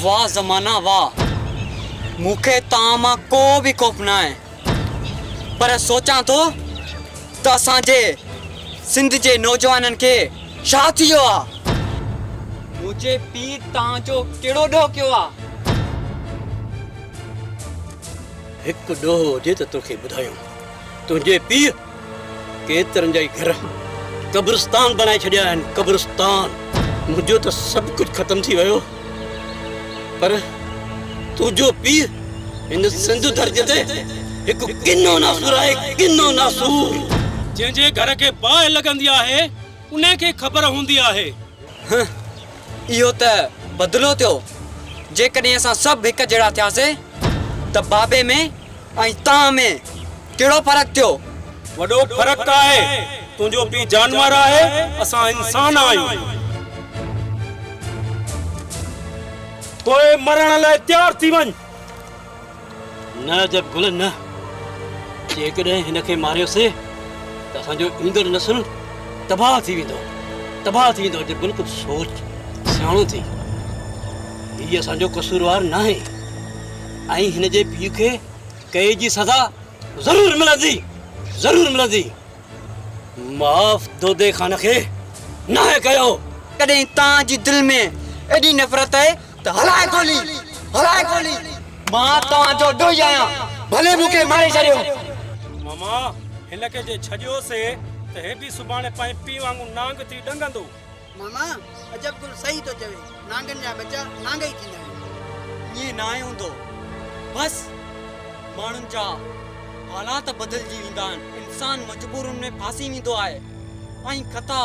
واه زمانه واه مون کي توهان مان ڪو به خوف ناهي پر سوچان ٿو ته اسان جي سنڌ جي نوجوانن کي ڇا ٿي ويو آ منهنجي پيء توهان جو ڪهڙو ڏوهه ڪيو آ هڪ ڏوهه هجي ته توکي ٻڌايون تنهنجي پيء ڪيترن جا ئي گهر قبرستان بنائي ڇڏيا آهن قبرستان. منهنجو ته سڀ ڪجهه ختم ٿي ويو پر تنهنجو پيء هن سنڌ ڌرتي تي هڪ ڪنو ناسور آهي ڪنو ناسور. جنهن جي گهر کي باهه لڳندي آهي ان کي خبر هوندي آهي. هه اهو ته بدلو ٿيو جيڪڏهن اسان سڀ هڪ جهڙا ٿياسين ته بابي ۾ ۽ تان ۾ ڪهڙو فرق ٿيو؟ وڏو فرق آهي. تنهنجو پيء جانور آهي، اسان انسان آهيون. پوء مرڻ لاء تيار ٿي وڃ. نه عجب گل نه. جيڪڏهن هن کي ماريوسين ته اسان جو ايندڙ نسل تباهه ٿي ويندو. تباهه ٿي ويندو. عجب گل ڪجهه سوچ. سياڻو ٿي. هي اسان جو قصوروار ناهي. ۽ هن جي پيء کي قيد جي سزا ضرور ملندي ضرور ملندي معاف دودي خان کي ناهي ڪيو ڪڏهن تان جي دل ۾ ايڏي نفرت اهي ته هلائي گولي هلائي گولي مان توهان جو ڏوهي آهيان ڀلي مون کي ماري ڇڏيو. ماما هن کي جي ڇڏيو سي ته هي به سڀاڻي پنهنجي پيء وانگون نانگ ٿي ڏنگندو. ماما عجب گل صحيح ٿو چوي نانگن جا ٻچا نانگ ئي ٿيندا آهن. ائين ناهي هوندو بس ماڻهن جا حالات بدلجي ويندا آهن انسان مجبورين ۾ ڦاسي ويندو آهي ۽ خطا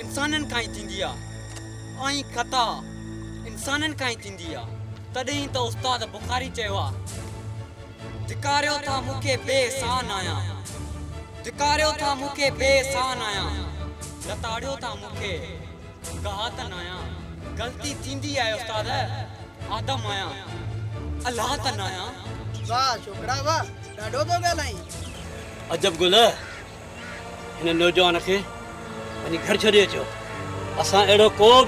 انسانن کان ئي ٿيندي آهي ۽ خطا انسانن کان ئي ٿيندي آهي تڏهن ئي ته استاد بخاري چيو آهي. ڌڪاريو ٿا مون کي بي سان آهيان. ڌڪاريو ٿا مون کي بي سان آهيان. لتاڙيو ٿا مون کي گهاتن آهيان. غلطي ٿيندي آهي استاد آدم آهيان الهاتن آهيان. واه ڇوڪرا واه ڏاڍو پيو ڳالهائين. عجب گل هن نوجوان کي وڃي گهر ڇڏي اچو اسان اهڙو ڪو به.